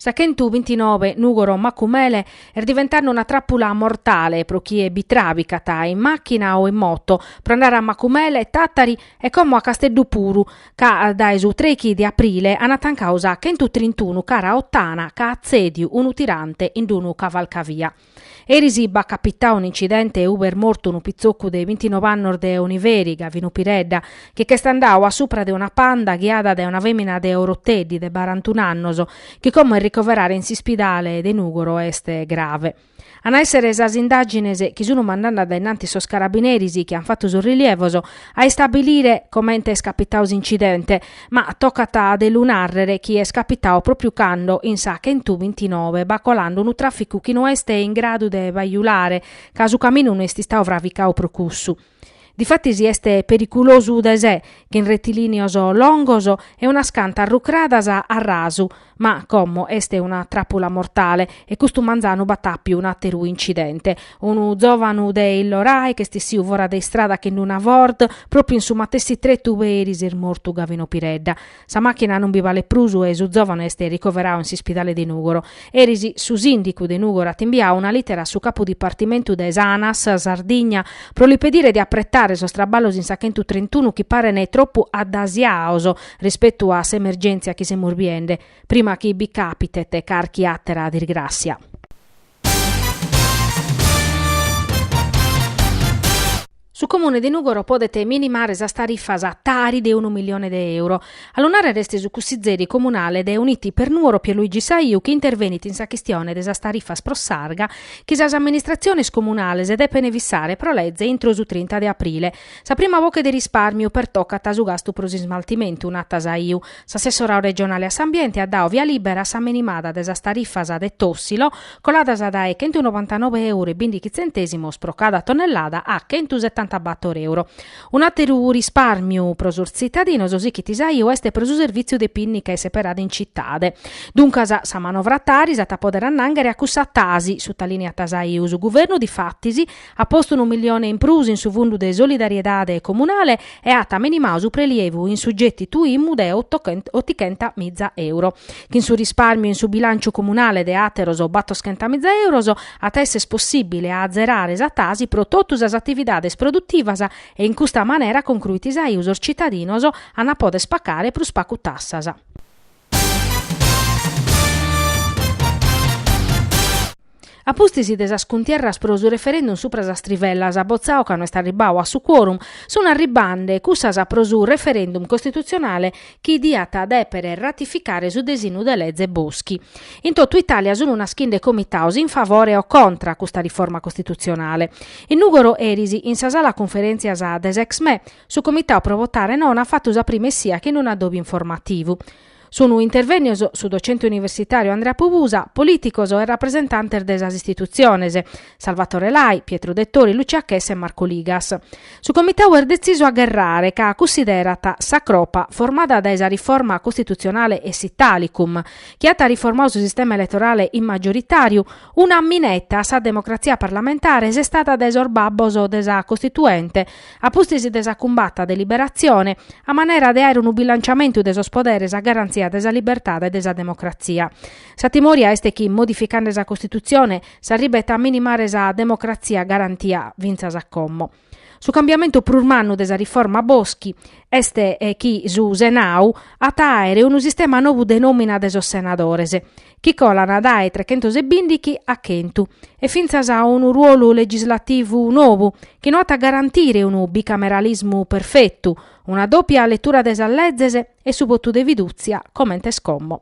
Sa chentubintinobe Nùgoro Macumele est diventande una tràpula mortale pro chie bi tràbicat, in màchina o in moto, pro andare a Macumele, Tàtari e como a Casteddu puru, ca dae su trèighi de aprile ant tancau sa chentutrintunu cara Ottana ca at tzèdiu unu tirante in unu cavalcavia. Eris b'at capitau un'incidente ub'est mortu unu pitzocu de bintinove annos de Oniveri, Gavinu Piredda, chi ch'est andau a supra de una Panda ghiada dae una femina de Oroteddi de barantun'annos, chi como est ricoverada in s'ispidale de Nugoro est grave. An a èssere sas indàgines chi sun mandande a dae innantis sos carabineris chi an fatu sos rilievos a istabilire comente est capitau s'incidente, Ma tocat de lu nàrrere chi est capitau pròpiu cando, in sa chentu bintinove, b'at colande unu tràficu chi no est in gradu de bajulare, ca su caminu no est istau fravicau pro cussu. Difatis est periculosu de se, chin retilìneos longos e unas cantas rucradas a rasu, Ma como est una trapula mortale e custu manzanu b'at àpiu un'ateru incidente. Unu zovanu de Illorai ch'est issiu fora de istrada chin una Ford, propiu in su matessi tretu ub'eris est mortu Gavino Piredda. Sa machina non bi balet prus e su zovanu est ricoverau in s'ispidale de Nugoro. Eris su sindicu de Nugoro at imbiau una litera a su capu dipartimentu de s'Anas Sardigna pro li pedire de apretare sos traballos in sa chentu trentunu chi parene tropu addasiaos rispetu a s'emergèntzia chi semus biende, prima chi bi càpitet carchi àtera dirgràssia. Su Comune de Nùgoro podet minimare sas tarifas Tari de unu milione de euro. A lu nàrrere est su cussizeri comunale de Uniti per Nuoro Pierluigi Saiu chi intervenit in sa chistione de sas tarifas pro s'arga chi sas amministratziones comunales depent fissare pro leze intro su trinta de aprile Sa prima boche de rispàrmiu pertocat su gastu pro s'ismaltimentu, nat Saiu. S'assessoradu regionale a s'ambiente at dau via lìbera a sa menimada de sas tarifas de Tòssilo, coladas dae chentunovantanove euro e bìndichi tzentèsimos pro cada tonnellada a chentusetantabator euro. Un'àteru rispàrmiu pro sos tzitadinos, sichit Saiu, est pro su servìtziu de pìnnica seperada in citade. Duncas, sa manovra Tari s'at a pòdere annànghere a cussa Tasi, sutalìniat Saiu, su guvernu difatis At postu unu milione in prus in su fundu de solidariedade comunale e at menimau su prelievu in su getitu Imu de otichenta miza euro. Chin su risparmiu in su bilànciu comunale de àteros batoschenta miza euros at a esser possìbile a azerare sa Tasi pro totu sas atividades produtivas e in custa manera concruit Saiu sos citadinos an a poder pacare prus pacu tassas. A pustis de sas cuntierras pro su referendum supra sas trivellas, botzau ca no est arribbadu a su quorum, sunt arribbende cussas pro su referendum costitutzionale chi diat dèpere ratificare su desinu de leze Boschi. In totu Itàlia sunt naschinde comitados in favore o contra custa riforma costitutzionale. In Nùgoro eris, in sa sala cunferèntzias de s'Exme, Su Comitau pro Votare No at fatu sa prima essia chin unu adobiu informativu. Sunu intervènnios su docente universitàriu Andrea Pubusa, polìticos e rapresentantes de sas istitutziones, Salvatore Lai, Pietru Dettori, Lucia Chessa e Marco Ligas. Su Comitau est detzisu a gherrare ca cunsiderat sa cropa formada dae sa riforma costitutzionale e s'Italicum, chi at riformadu su sistema eletorale in maggioritàriu, una mineta a sa democratzia parlamentare sestada dae sos babbos de sa Costituente, A pustis de sa cumbata de liberatzione, a manera de aer unu bilanciamentu de sos poderes a garantzia de sa libertade e de sa democratzia. Sa timoria est chi, modificande sa Costitutzione, s'arribet a minimare sa democratzia garantia fintzas a como. Su cambiamentu prus mannu de sa riforma Boschi est chi su Senadu at a aer unu sistema nou de nòmina de sos senadores, chi colant dae trechentos e bindighi a chentu, e fintzas a unu ruolu legislativu nou, chi no at a garantire unu bicameralismu perfetu, una dòpia letura de sas lezes e su votu de fidùtzia comente est como.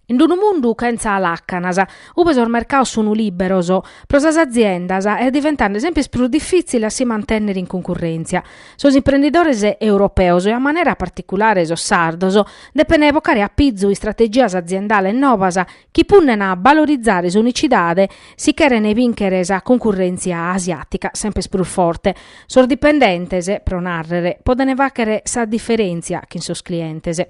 In d-unu mundu chentza làcanas, ube sos mercados sunu lìberos, pro sas aziendas est diventende semper prus difìtzile a si mantènnere in cuncurrèntzia. Sos imprendidores europeos e a manera particulare sos sardos depene bocare a pizu istrategias aziendales nobas chi punnena a balorizare s'unicidade si cheren bìnchere sa cuncurrèntzia asiàtica semper prus forte, sos dipendentes, pro nàrrere, podent fàghere sa diferèntzia chin sos clientes.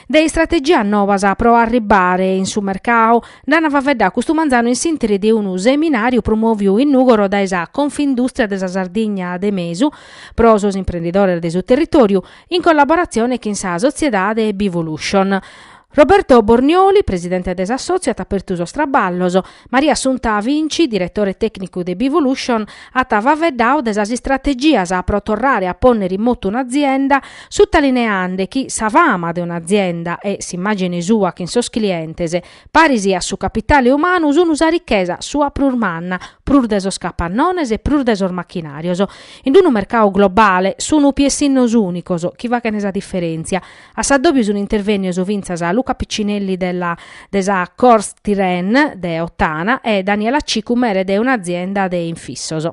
De istrategias nobas pro arribbare in su mercadu nd'an faeddadu custu manzanu in s'interi de unu seminàriu promòviu in Nùgoro dae sa Confindùstria de sa Sardigna de Mesu pro sos imprendidores de su territòriu, in collaboratzione chin sa sotziedade Bevolution. Roberto Bornioli, presidente de s'assòtziu, at apertu sos traballos. Maria Assunta Vinci, diretore tècnicu de Bevolution, at faeddadu de sas istrategias pro torrare a pònnere in motu un'azienda, sutalineende chi sa fama de un'azienda e s'immàgine sua chin sos clientes, paris a su capitale umanu, sun sa richesa sua prus manna, prus de sos capannones e prus de sos machinàrios. In unu mercadu globale, sun piessinnos ùnicos chi faghent sa diferèntzia. A s'addòbiu sunt intervènnios fintzas Luca Piccinelli de la de sa Corstyrene de Ottana e Daniela Cicu mere de un'azienda de infissos.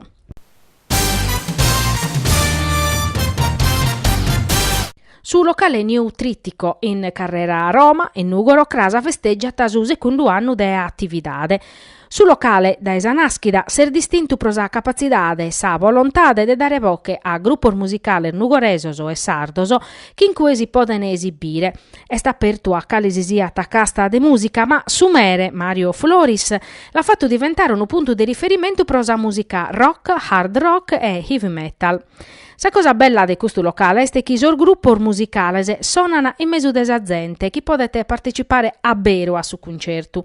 Su locale New Trittico in Carrera Roma, in Nùgoro, cras, festègiat su segundu annu de atividade. Su locale, dae sa nàschida, s'est distintu pro sa capatzidade e sa volontade de dare boche a grupos musicales nugoresos e sardos chi in cue si podent esibire. Est apertu a cale si siat casta de mùsica, ma su mere, Mario Floris, l'at fatu diventare unu puntu de riferimentu pro sa mùsica rock, hard rock e heavy metal. Sa cosa bella de custu locale est chi sos grupos musicales sonant in mesu de sa zente chi podet partecipare aberu a su cuncertu.